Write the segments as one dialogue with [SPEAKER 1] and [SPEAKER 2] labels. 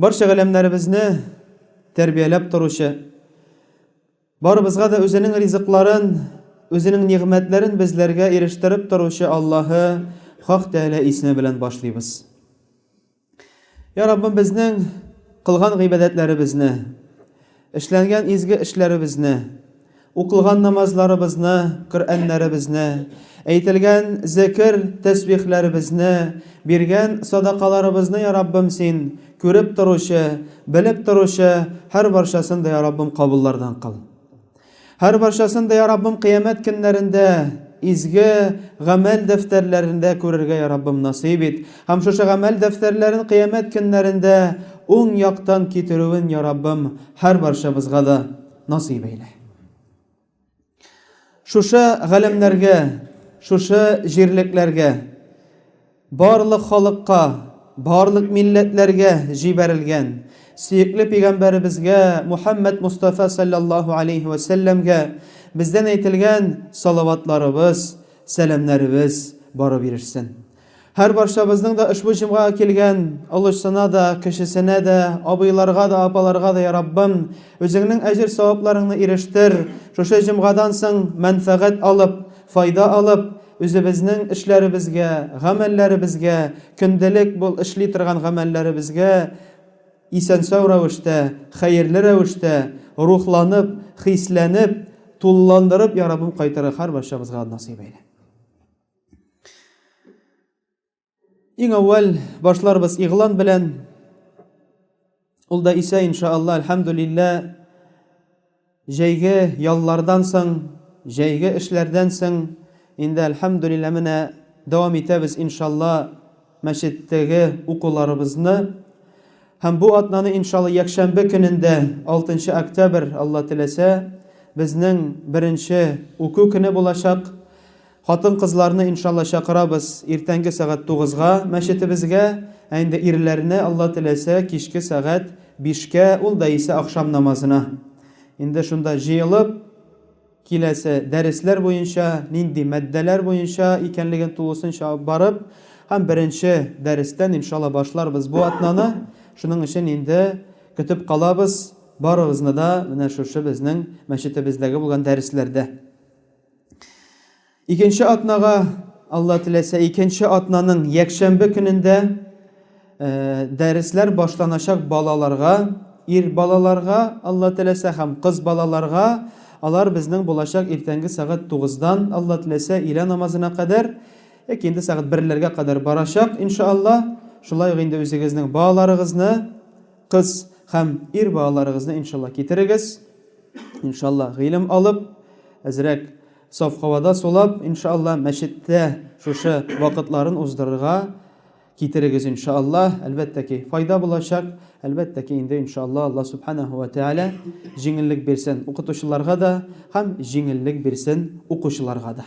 [SPEAKER 1] Барча галәмнәребезне тәрбияләп торучы, барыбызга да үзенең ризыкларын, үзенең нигъмәтләрен безләргә ирештереп торучы Аллаһы Хак Тәгалә исеме белән башлыйбыз. Я Раббым, безнең кылган гыйбадәтләребезне, Эшләнгән изге эшләребезне, укылган намазларыбызны, Коръәннәребезне, әйтелгән зекер, тәсбихләребезне, биргән садакаларыбызны, я Раббым, Син күреп торучы, белеп торучы, һәрбарчасын да, я Раббым, кабуллардан кыл. Һәр барчасын да, я Раббым, кыямәт көннәрендә изге гамәл дәфтәрләрендә күрергә, я Раббым, насыйп ит. Һәм шушы гамәл дәфтәрләрен кыямәт көннәрендә уң яктан китерүен, я Раббым, һәр барчабызга да насыйп әйлә. Шушы галәмнәргә, шушы җирлекләргә Барлык халыкка, барлык милләтләргә җибәрелгән сөекле пигамбәребезгә Мухәммәд Мостафа салләллаһу алейһи вә сәлләмгә бездән әйтелгән салаватларыбыз, сәламнәребез барып ирешсен. Һәрбарчабызның да ошбу җомгага килгән олысына да, кечесенә дә, абыйларга да, апаларга да, йа Раббым, Үзеңнең әҗер-савапларыңны ирештер, шушы җомгадан соң мәнфәгать алып, файда алып, үзебезнең эшләребезгә, гамәлләребезгә, көндәлек бул эшли торган гамәлләребезгә исән-сау рәвештә, хәерле рәвештә, рухланып, хисләнеп, тулыландырып ярабым кайтырга һәрбарчабызга насыйп әйлә. Иң әүвәл башларбыз игълан белән. Ул да исә иншаалла, альхамдулилла, җәйге яллардан соң, җәйге эшләрдән соң инде альхамдулилла менә дәвам итәбез иншалла мәчеттәге укуларыбызны. Һәм бу атнаны иншалла якшәмбе көнендә 6 октябрь Алла теләсә безнең беренче уку көне булачак. Хатын кызларны иншалла чакырабыз иртәнге сәгать тугызга мәчетебезгә, ә инде ирләрне Алла теләсә кичке сәгать бишкә ул да исә ахшам намазына. Инде шунда җыелып киләсе дәресләр буенча, нинди мәддәләр буенча икәнлеген тулысынча алып барып һәм беренче дәрестән иншалла башларбыз бу атнаны, шуның өчен инде көтеп калабыз барыгызны да менә шушы безнең мәчетебездәге булган дәресләрдә. Икенче атнага, Алла теләсә, икенче атнаның якшәмбе көнендә э, дәресләр башланачак балаларга, ир балаларга, Алла теләсә, һәм кыз балаларга алар безнең булачак иртәнге сәгать 9-дан, Алла теләсә, илә намазына кадәр, яки инде сәгать 1-ләргә кадәр барачак, иншалла. Шулай ук инде үзегезнең балаларыгызны Кыз һәм ир балаларыгызны иншалла китерегез, иншалла гыйлем алып, әзрәк саф һавада сулап, иншалла мәчеттә шушы вакытларын уздырырга китерегез иншалла, әлбәттә ки файда булачак, әлбәттә ки инде иншалла Алла Субханәһү вә Тәгалә җиңеллек бирсен укытучыларга да һәм җиңеллек бирсен укучыларга да.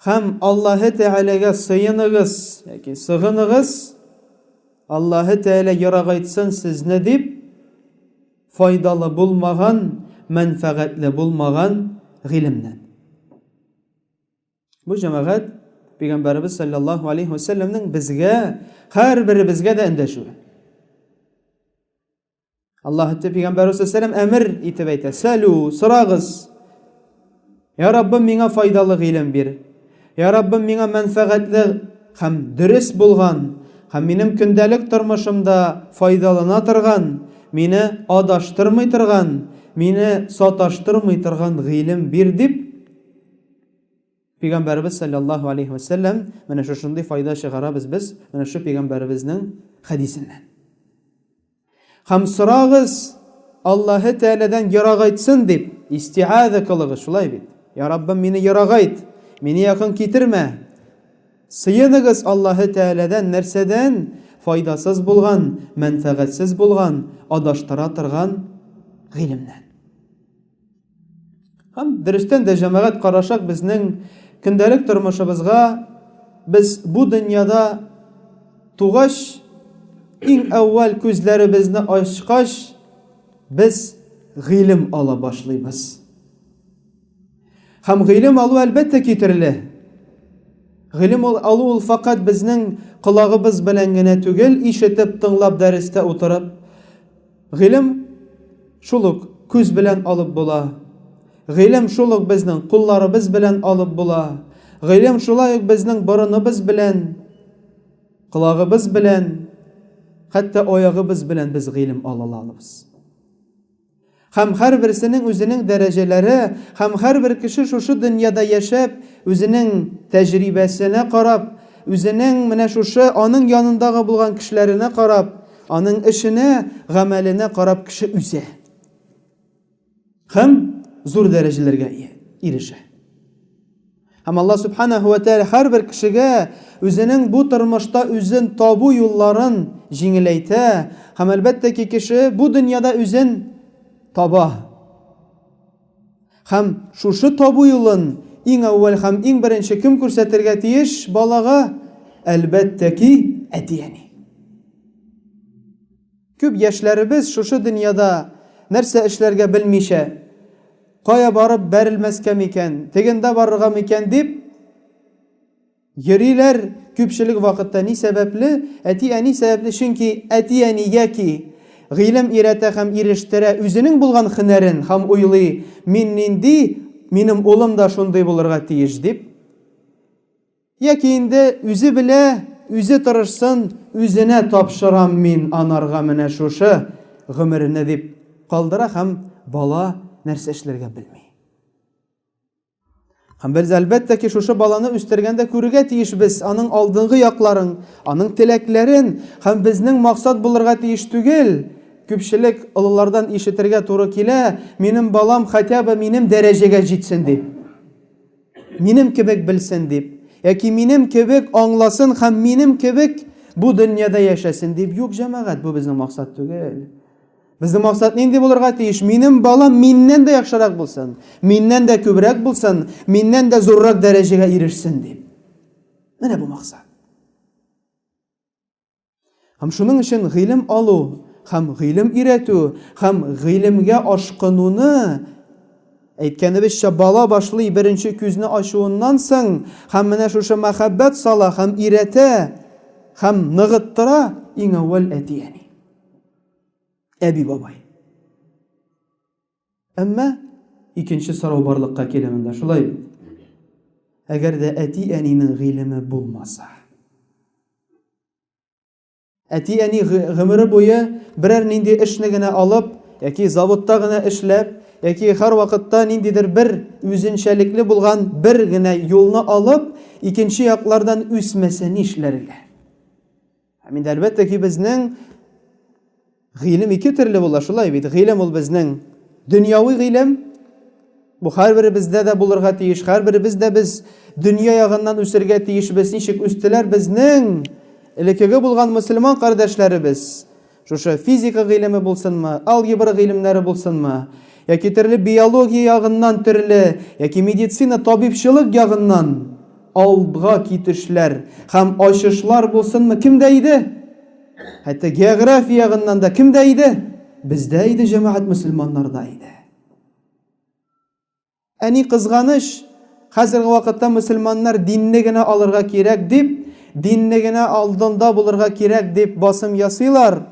[SPEAKER 1] Һәм Аллаһы Тәгаләгә сыеныгыз, яки сыгыныгыз, Аллаһы Тәгалә ярагайтсын сезне дип, файдалы булмаган, мәнфәгатьле булмаган гыйлемнән. Бу җәмәгать Пәйгамбәребез саллаллаһу алейһи ва сәлләмнең безгә, һәрберебезгә дә эндәшүе. Аллаһ пәйгамбәр сәлам әмер итеп әйтә: "Сәлү, сорагыз. Я Раббым, миңа файдалы гыйлем бир. Я Раббым, миңа мәнфәгатьле һәм дөрес булган һәм минем көндәлек тормышымда файдалана торган, мине адаштырмый торган, мине саташтырмый торган гыйлем бир", дип Пәйгамбәребез салләллаһу алейһи вә сәлләм, менә шушындый файда чыгарабыз без менә шу пәйгамбәребезнең хәдисеннән. Һәм сорагыз, Аллаһы Тәгаләдән ерагайтсын дип, истиаза кылыгыз, шулай бит? Я Раббым, мине ерагайт, мине якын китермә. Сыеныгыз Аллаһы Тәгаләдән нәрсәдән? Файдасыз булган, мәнфәгатьсез булган, адаштыра торган гыйлемнән. Һәм дөрестән дә җәмәгать карашак безнең көндәлек тормышыбызга без бу дөньяда тугач, иң әүвәл күзләребезне ачкач, без гыйлем ала башлыйбыз. Һәм гыйлем алу әлбәттә китерле. Гыйлем алу ул факат безнең колагыбыз белән генә түгел, ишетеп, тыңлап, дәрестә утырып, Гыйлем шул ук күз белән алып була. Гыйлем шул ук безнең кулларыбыз белән алып була. Гыйлем шулай ук безнең борыныбыз белән, колагыбыз белән, хәтта аягыбыз белән без гыйлем ала алабыз. Һәм һәрберсенең үзенең дәрәҗәләре, һәм һәрбер кеше шушы дөньяда яшәп, үзенең тәҗрибәсенә карап, үзенең менә шушы аның янындагы булган кешеләренә карап, Аның эшенә, гамәленә карап кеше үсә. Һәм зур дәрәҗәләргә ирешә. Һәм Аллаһ Субханаһу ва Тәгалә һәрбер кешегә үзенең бу тормышта үзен табу юлларын җиңеләйтә, һәм әлбәттә ки, кеше бу дөньяда үзен таба. Һәм шушы табу юлын иң әүвәл һәм иң беренче кем күрсәтергә тиеш балага? Әлбәттә ки, әти-әни. Күп яшьләребез шушы дөньяда нәрсә эшләргә белмичә, кая барып бәрелмәскә микән, тегендә барырга микән дип, Йөриләр, күпчелек вакытта ни сәбәпле? Әти-әни сәбәпле, чөнки әти-әни яки гыйлем өйрәтә һәм ирештерә, үзенең булган һөнәрен һәм уйлый, мин нинди, минем улым да шундый булырга тиеш дип. Яки инде үзе белә, үзе тырышсын, үзенә тапшырам мин анарга менә шушы гомерне дип калдыра һәм бала нәрсә эшләргә белми. Һәм без әлбәттә ки, шушы баланы үстергәндә күрергә тиешбез аның алдынгы якларын, аның теләкләрен һәм безнең максат булырга тиеш түгел. Күпчелек олылардан ишетергә туры килә, минем балам хотя бы минем дәрәҗәгә җитсен дип. Минем кебек белсен дип. Яки минем кебек аңласын һәм минем кебек бу дөньяда яшәсен дип. Юк, җәмәгать, бу безнең максат түгел. Безнең максат нинди булырга тиеш? Минем балам миннән дә яхшырак булсын, миннән дә күбрәк булсын, миннән дә зуррак дәрәҗәгә ирешсен дип. Менә бу максат. Һәм шуның өчен гыйлем алу һәм гыйлем өйрәтү һәм гыйлемгә ашкынуны әйткәнебезчә бала башлый беренче күзне ачуыннан соң һәм менә шушы мәхәббәт сала һәм өйрәтә һәм ныгыттыра иң әүвәл әти-әни. Әби бабай. Әмма икенче сорау барлыкка килә монда, шулай бит? Әгәр дә әти-әнинең гыйлеме булмаса. Әти-әни гомере буе берәр нинди эшне генә алып, яки заводта гына эшләп, яки һәр вакытта ниндидер бер үзенчәлекле булган бер генә юлны алып, икенче яклардан үсмәсә нишләргә? Һәм инде әлбәттә ки, безнең гыйлем ике төрле була, шулай бит. Гыйлем ул безнең дөньяви гыйлем. Бу һәрберебездә дә булырга тиеш. Һәрберебез дә без дөнья ягыннан үсергә тиешбез. Ничек үстеләр безнең элеккеге булган мөселман кардәшләребез? Шушы физика гыйлеме булсынмы, алгебра гыйлемнәре булсынмы, яки төрле биология ягыннан төрле, яки медицина, табибчылык ягыннан Алдга китешләр һәм ачышлар булсынмы, кемдә иде? Хәтта география ягыннан да кемдә иде? Бездә иде, җәмәгать мөселманнарда иде. Ә ни кызганыч, хәзерге вакытта мөселманнар динне генә алырга кирәк дип, динне генә алдында булырга кирәк дип басым ясыйлар.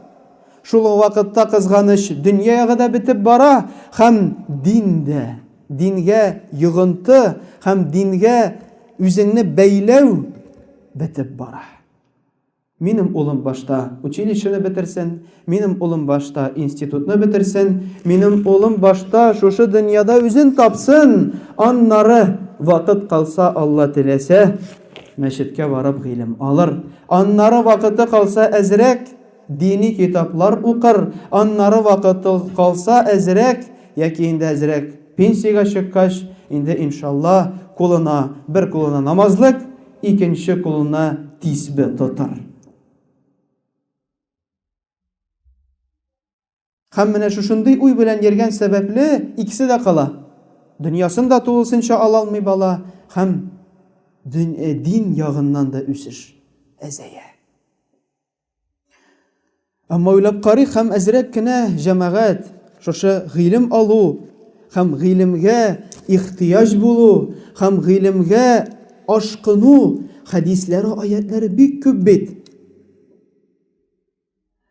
[SPEAKER 1] Шул ук вакытта, кызганыч, дөнья ягы да бетеп бара һәм дин дә. Дингә йогынты һәм дингә үзеңне бәйләү бетеп бара. Минем улым башта училищены бетерсен, минем улым башта институтны бетерсен, минем улым башта шушы дөньяда үзен тапсын, аннары, вакыт калса, Алла теләсә, мәчеткә барып гыйлем алыр, аннары вакыты калса әзрәк, Дини китаплар укыр, аннары вакыты калса әзрәк, яки инде әзрәк пенсиягә чыккач, инде иншалла, кулына, бер кулына намазлык, икенче кулына тисбе тотар. Һәм менә шушындый уй белән йөргән сәбәпле, икесе дә кала. Дөньясын да тулысынча ала алмый бала һәм дин ягыннан да үсеш әзәя. Әмма уйлап карыйк һәм әзрәк кенә җәмәгать шушы гыйлем алу һәм гыйлемгә ихтыяҗ булу һәм гыйлемгә ашкыну хәдисләре, аятләре бик күп бит.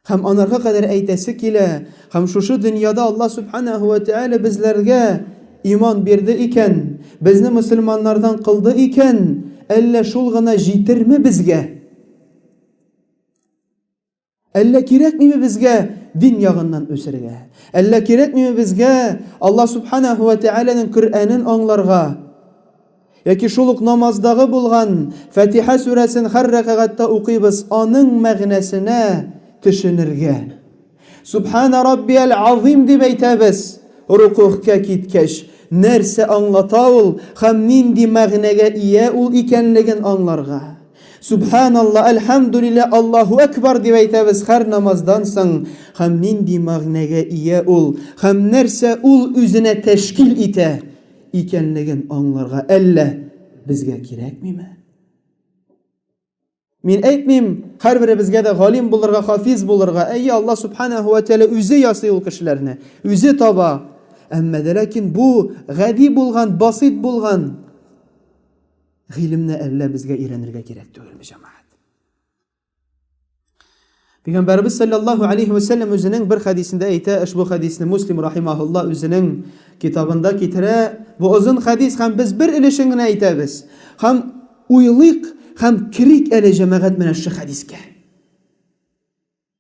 [SPEAKER 1] Һәм анарга кадәр әйтәсе килә, һәм шушы дөньяда Аллаһ Субханаһу ва Тәгалә безләргә иман бирде икән, безне мөселманнардан кылды икән, әллә шул гына җитерме безгә? Әллә кирәкмиме безгә дин ягыннан үсергә? Әллә кирәкмиме безгә Аллаһ Субханаһу ва Тәгаләнең Коръәнен аңларга? Яки шул ук намаздагы булган Фатиха сүрәсен һәр рәкагатьтә укыйбыз, аның мәгънәсенә төшенергә. Сүбханә раббиәл азыйм дип әйтәбез. Рокугъка киткәч, нәрсә аңлата ул һәм нинди мәгънәгә ия ул икәнлеген аңларга. Сүбханалла, әлхәмдүлилла, Аллаһу әкбар дип әйтәбез һәр намаздан соң һәм нинди мәгънәгә ия ул һәм нәрсә ул үзенә тәшкил итә, икәнлеген аңларга әллә безгә кирәкмиме? Мин әйтмим, һәрберебезгә дә галим булырга, хафиз булырга. Әйе, Алла субханаһу ва тәгалә үзе ясый ул кешеләрне, үзе таба. Әмма дә ләкин бу гади булган, басыйт булган гыйлемне әллә безгә өйрәнергә кирәк түгелме, җәмәгать? Пәйгамбәрбез саллаллаһу алейхи ва сәлләм үзенең бер хәдисендә әйтә, ошбу хәдисне Муслим рахимаһулла үзенең китабында китерә. Бу озын хәдис һәм без бер өлешен генә әйтәбез. Һәм уйлыйк һәм керик әле җәмәгать менә шу хәдискә.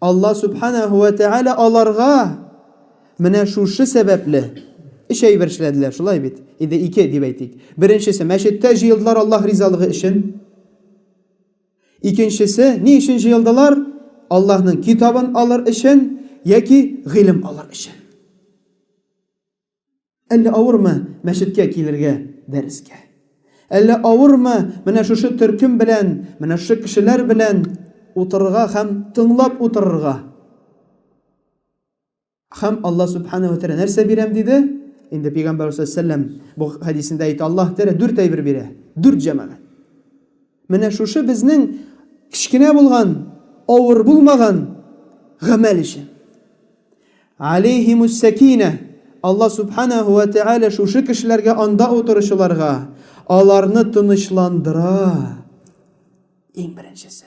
[SPEAKER 1] Алла Сүбхәнәһү вә Тәгалә аларга менә шушы сәбәпле өч әйбер эшләделәр, шулай бит? Инде ике дип әйтик. Беренчесе, мәчеттә җыелдылар Аллаһ ризалыгы өчен. Икенчесе, ни өчен җыелдылар? Аллаһның китабын алыр өчен яки гыйлем алыр өчен. Әллә авырмы мәчеткә килергә дәрескә? Әллә авырмы менә шушы төркем белән, менә шушы кешеләр белән утырырга һәм тыңлап утырырга? Һәм Аллаһ Сүбхәнәһү ва Тәгалә нәрсә бирәм диде? Инде Пәйгамбәрбез салләлләһү галәйһи ва сәлләм бу хәдисендә әйтә, Аллаһ Тәгалә дүрт тәйбер бирә, дүрт җәмәгать. Менә шушы безнең кечкенә булган, авыр булмаган гамәл өчен. Алейһимус-сәкинә, Алла Сүбхәнәһү вә Тәгалә шушы кешеләргә анда утыручыларга аларны тынычландыра, иң беренчесе.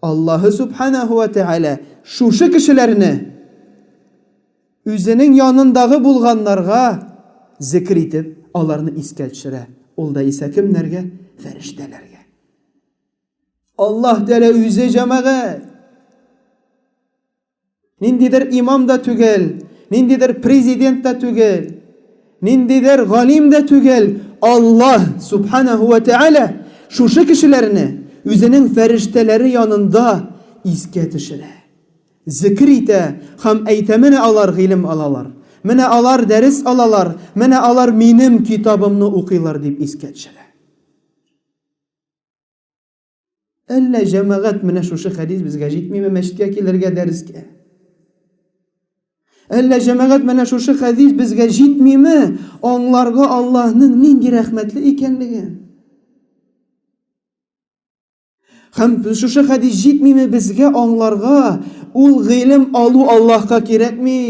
[SPEAKER 1] Аллаһы Сүбхәнәһү вә Тәгалә шушы кешеләрне Үзенең янындагы булганнарга зекер итеп, аларны искә төшерә. Ул да исә кемнәргә? Фәрештәләргә. Аллаһ Тәгалә Үзе җәмәгать. Ниндидер имам да түгел, ниндидер президент та түгел, ниндидер галим дә түгел, Аллаһ субханәһу вә тәгалә шушы кешеләрне үзенең фәрештәләре янында искә төшерә. Зикер итә һәм әйтә, менә алар гыйлем алалар, менә алар дәрес алалар, менә алар минем китабымны укыйлар дип искә төшерә. Әллә җәмәгать менә шушы хәдис безгә җитмиме мәчеткә килергә дәрескә? Әллә җәмәгать менә шушы хәдис безгә җитмиме аңларга Аллаһның нинди рәхмәтле икәнлеген? Һәм шушы хәдис җитмиме безгә аңларга ул гыйлем алу Аллаһка кирәкми?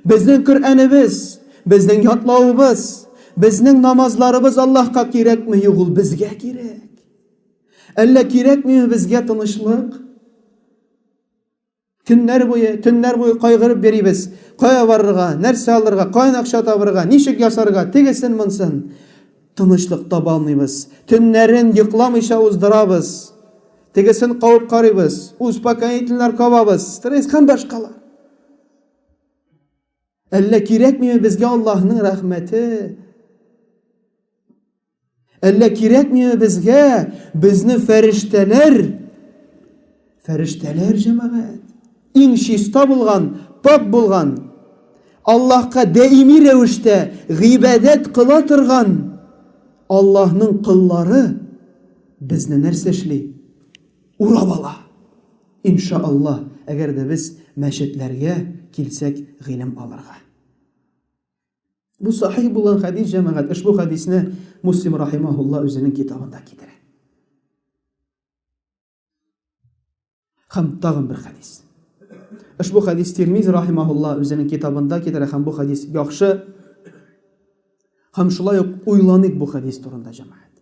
[SPEAKER 1] Безнең Коръәнебез, безнең ятлавыбыз, безнең намазларыбыз Аллаһка кирәкме, юк, ул безгә кирәк. Әллә кирәкмиме безгә тынычлык? Көннәр буе, төннәр буе кайгырып йөрибез. Кая барырга, нәрсә алырга, каян акча табырга, ничек ясарга, тегесен, монсын. Тынычлык таба алмыйбыз. Төннәрен йокламыйча уздырабыз. Тегесен кабып карыйбыз, успокоительләр кабабыз, стресс һәм башкалар. Әллә кирәкмиме безгә Аллаһның рәхмәте? Әллә кирәкмиме безгә безне фәрештәләр? Фәрештәләр җәмәгать. Иң чиста булган, пак булган, Аллаһка даими рәвештә гыйбадәт кыла торган Аллаһның кыллары безне нәрсә эшли? Урап ала. Инша Аллаһ, әгәр дә без мәчетләргә килсәк гыйлем алырга. Бу сахих булган хәдис, җәмәгать, ошбу хәдисне Муслим рахимаһулла үзенең китабында китерә. Һәм тагын бер хәдис. Ошбу хәдис Тирмизи рахимаһулла үзенең китабында китерә һәм бу хәдис яхшы. Һәм шулай ук уйланыйк бу хәдис турында, җәмәгать.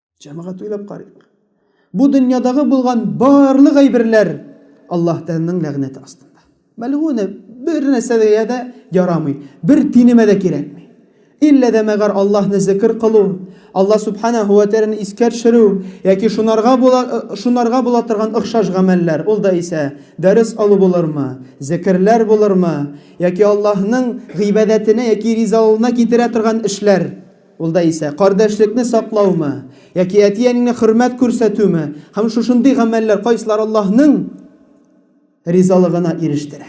[SPEAKER 1] Җәмәгать уйлап карыйк. Бу дөньядагы булган барлык әйберләр Аллаһ Тәгаләнең ләгънәте астында. Мәлгуне бер нәрсәгә дә ярамый, бер тинемә дә кирәкми. Иллә дә мәгәр Аллаһны зикр кылу, Алла Субханаһу ва Тәгаләне искә төшерү яки шунарга була шунарга була торган охшаш гамәлләр, ул да исә дәрес алу булырмы, зикерләр булырмы, яки Аллаһның гыйбадәтенә яки ризалыгына китерә торган эшләр. Ул да исә, кардәшлекне саклаумы, яки әти-әнеңне хөрмәт күрсәтүме, һәм шушындый гамәлләр кайсылар Аллаһның ризалыгына ирештерә.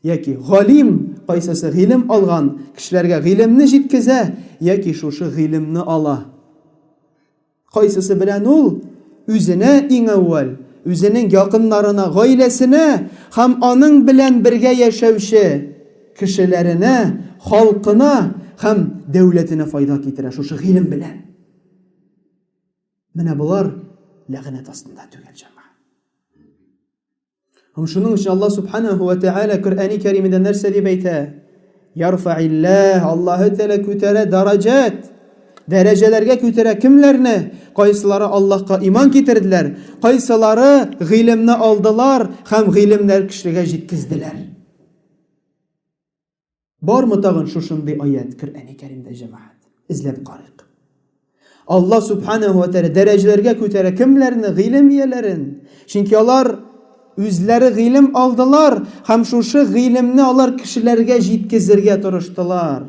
[SPEAKER 1] Яки, галим, кайсысы гыйлем алган кешеләргә гыйлемне җиткезә, яки шушы гыйлемне ала. Кайсысы белән ул үзенә иң әүвәл, үзенең якыннарына, гаиләсенә һәм аның белән бергә яшәүче кешеләренә, халкына һәм дәүләтенә файда китерә шушы гыйлем белән? Менә болар ләгънәт астында түгел, җәмәгать. Һәм шуның өчен Аллаһ Субханаһу ва Тәгалә Коръәни Кәримендә нәрсә дип әйтә? Ярфаилләһ, Аллаһы Тәгалә күтәрә дәрәҗәт. Дәрәҗәләргә күтәрә кемләрне? Кайсылары Аллаһка иман китерделәр, кайсылары гыйлемне алдылар һәм гыйлемнәр кешегә җиткезделәр. Бармы тагын шушындый аять Коръәни Кәримдә җәмәгать? Эзләп карыйк. Алла Субханәһу ва Тәгалә дәрәҗәләргә күтәрә кемләрне? Гыйлем ияләрен. Чөнки алар үзләре гыйлем алдылар һәм шушы гыйлемне алар кешеләргә җиткезергә тырыштылар.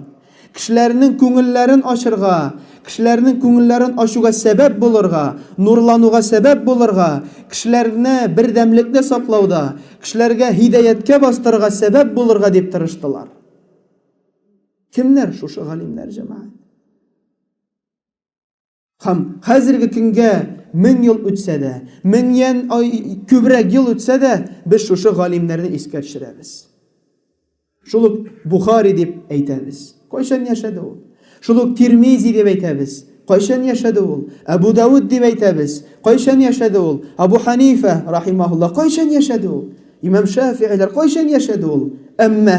[SPEAKER 1] Кешеләрнең күңелләрен ачырга, кешеләрнең күңелләрен ачуга сәбәп булырга, нурлануга сәбәп булырга, кешеләрне бердәмлекне саклауда, Кешеләргә һидәяткә бастырырга сәбәп булырга дип тырыштылар. Кемнәр шушы галимнәр, җәмәгать? Һәм хәзерге көнгә мең ел үтсә дә, меңнән күбрәк ел үтсә дә, без шушы галимнәрне искә төшерәбез. Шул ук Бухари дип әйтәбез. Кайчан яшәде ул? Шул ук Тирмизи дип әйтәбез. Кайчан яшәде ул? Әбу Дауд дип әйтәбез. Кайчан яшәде ул? Абу Ханифә, рахимаһулла, кайчан яшәде ул? Имам Шәфигыйләр кайчан яшәде ул? Әмма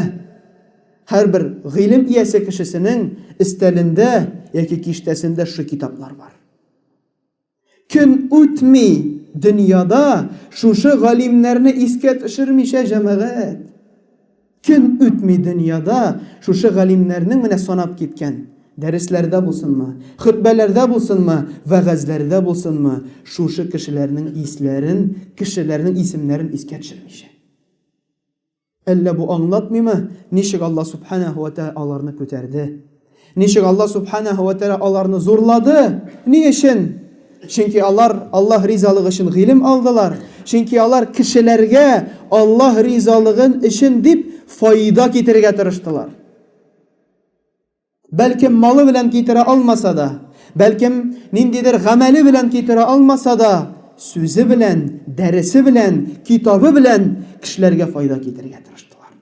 [SPEAKER 1] һәрбер гыйлем иясе кешесенең өстәлендә яки киштәсендә шушы китаплар бар. Көн үтми, дөньяда шушы галимнәрне искә төшермичә җәмәгать. Көн үтми, дөньяда шушы галимнәрнең менә санап киткән, дәресләрдә булсынмы, хөтбәләрдә булсынмы, вәгазьләрдә булсынмы, шушы кешеләрнең исләрен, кешеләрнең исемнәрен искә төшермичә. Әллә бу аңлатмыймы, ничек Алла Сүбхәнәһү вә Тәгалә аларны күтәрде? Ничек Алла Сүбхәнәһү вә Тәгалә аларны зурлады? Ни өчен? Чөнки алар Аллаһ ризалыгы өчен гыйлем алдылар, чөнки алар кешеләргә Аллаһ ризалыгын өчен дип файда китерергә тырыштылар. Бәлкем, малы белән китерә алмаса да, бәлкем, ниндидер гамәле белән китерә алмаса да, сүзе белән, дәресе белән, китабы белән кешеләргә файда китерергә тырыштылар.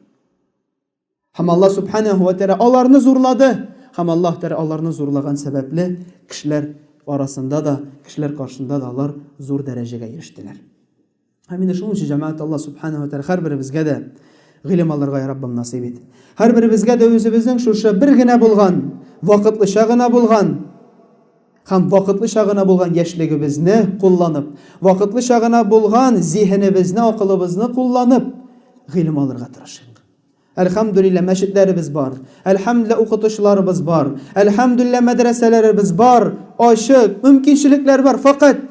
[SPEAKER 1] Һәм Аллаһ Субханәһу ва Тәгалә аларны зурлады, һәм Аллаһ Тәгалә аларны зурлаган сәбәпле, кешеләр арасында да, кешеләр каршында да алар зур дәрәҗәгә ирештеләр. Һәм инде шуның өчен, җәмәгать, Алла Субхана ва Тәгалә һәрберебезгә дә гыйлем алырга, я Раббым, насыйп ит. Һәрберебезгә дә үзебезнең шушы бер генә булган, вакытлыча гына булган һәм вакытлыча гына булган яшьлегебезне кулланып, вакытлыча гына булган зиһенебезне, акылыбызны кулланып, гыйлем алырга тырышыйк. Әлхәмдүлиллә, мәчетләребез бар. Әлхәмдүлиллә, укытучыларыбыз бар. Әлхәмдүлиллә, мәдрәсәләребез бар, ачык, мөмкинчелекләр бар. Фәкать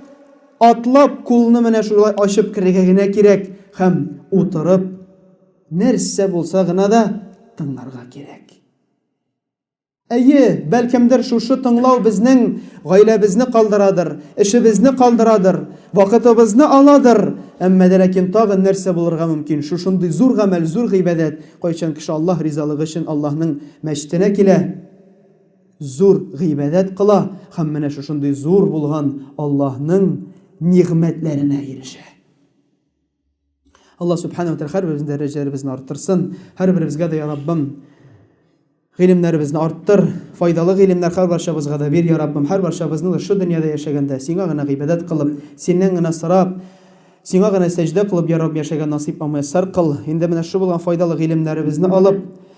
[SPEAKER 1] атлап кулны менә шулай ачып керергә генә кирәк һәм утырып нәрсә булса гына да тыңларга кирәк. Әйе, бәлкемдер шушы тыңлау безнең гаиләбезне калдырадыр, эшебезне калдырадыр, вакытыбызны аладыр, әмма дә ләкин тагын нәрсә булырга мөмкин, шушындый зур гамәл, зур гыйбадәт, кайчан кеше Аллаһ ризалыгы өчен Аллаһның мәчетенә килә, зур гыйбадәт кыла һәм менә шушындый зур булган Аллаһның нигъмәтләренә ирешә. Алла субхана ва тәхәр безне дәрәҗәләребезне арттырсын. Һәрберебезгә дә я Раббым гыйлемнәребезне арттыр, файдалы гыйлемнәр һәр барчабызга да бир, я Раббым, һәр барчабызны да шул дөньяда яшәгәндә сиңа гына гыйбадәт кылып, синнән генә сорап, сиңа гына сәҗдә кылып, я Рабб, яшәгән насыйп һәм мияссәр кыл. Инде менә шул булган файдалы гыйлемнәребезне алып,